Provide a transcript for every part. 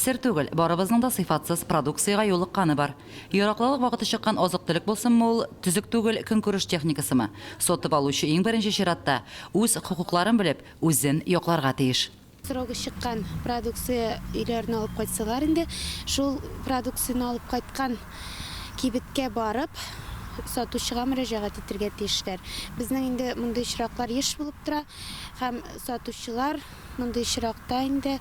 Сер түгел, барыбызның да сыйфатсыз продукциягә юлыкканы бар. Яраклылык вакыты чыккан азык-төлек булсынмы ул, төзек түгел көнкүреш техникасымы, сатып алучы иң беренче чиратта үз хокукларын белеп, үзен якларга тиеш. Срогы чыккан продукция өйләренә алып кайтсалар инде, шул продукцияне алып кайткан кибеткә барып, сатучыга мөрәҗәгать итергә тиешләр. Безнең инде мондый очраклар еш булып тора һәм сатучылар, Мондый очракта инде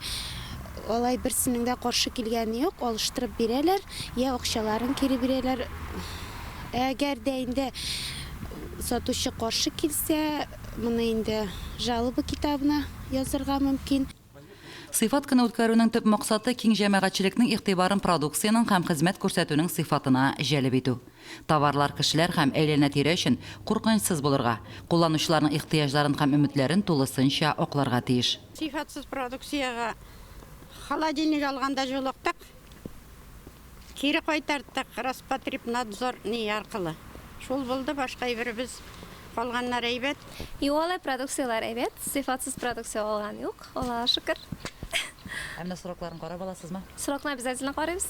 алай берсенең дә каршы килгәне юк, алыштырып бирәләр, йә акчаларын кире бирәләр. Ә әгәр дә инде сатучы каршы килсә, моны инде жалоба китабына язырга мөмкин. Сыйфат көне үткәрүнең төп максаты, киң җәмәгатьчелекнең игътибарын продукциянең һәм хезмәт күрсәтүнең сыйфатына җәлеп итү. Товарлар кешеләр һәм әйләнә-тирә өчен куркынычсыз булырга, кулланучыларның ихтыяҗларын һәм өметләрен тулысынча акларга тиеш. Сыйфатсыз продукциягә холодильник алганда җолыктык, кире кайтарттык, Роспотребнадзор не аркылы. Шул булды, башка әйберебез, калганнар әйбәт. Юк, алай продукцияләр әйбәт, сыйфатсыз продукция алган юк. Аллага шөкер. Ә менә срокларын карап аласызмы? Срокны обязательно карыйбыз.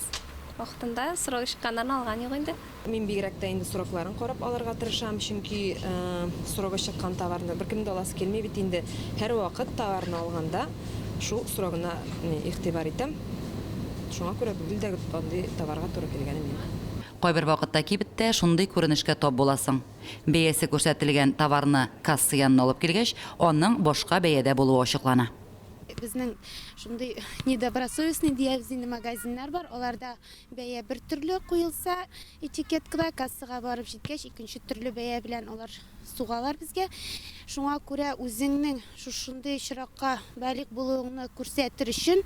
Вакытында срогы чыкканнарын алган юк инде. Мин бигрәк тә инде срокларын карап алырга тырышам, чөнки срогы чыккан товарны беркемнең дә аласы килми бит инде. Һәрвакыт товарны алганда шул срогына игътибар итәм. Шуңа күрә гел дә андый товарга туры килгәнем юк. Кайбер вакытта кибеттә шундый күренешкә тап буласың. Бәясе күрсәтелгән товарны касса янына алып килгәч, аның башка бәядә булуы ачыклана. Безнең шундый недобросовестный диябез инде магазиннар бар, аларда бәя бер төрле куелса этикеткада, кассага барып җиткәч, икенче төрле бәя белән алар сугалар безгә. Шуңа күрә үзеңнең шушындый очракка балигъ булуыңны күрсәтер өчен,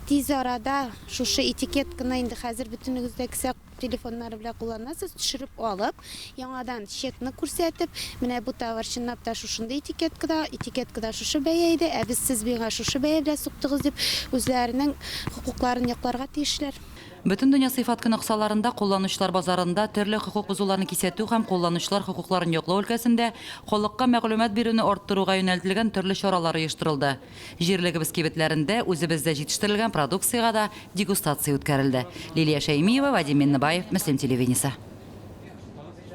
тиз арада шушы этикетканы инде хәзер бөтенегез дә кесә Телефоннары белән кулланасыз, төшереп алып, яңадан чекны күрсәтеп, менә бу товар чынлап та шушындый этикеткада, этикеткада шушы бәя иде, ә без сез миңа шушы бәя белән суктыгыз дип, үзләренең хокукларын якларга тиешләр. Бөтендөнья сыйфат көне кысаларында Кулланучылар базарында төрле хокук бозуларны кисәтү һәм кулланучылар хокукларын яклау өлкәсендә халыкка мәгълүмат бирүне арттыруга юнәлтелгән төрле чаралар оештырылды. Җирлегебез кибетләрендә үзебездә җитештерелгән продукциягә дә дегустация үткәрелде. Лилия Шәймиева, Вадим Миннебаев, Мөслим телевидениесе.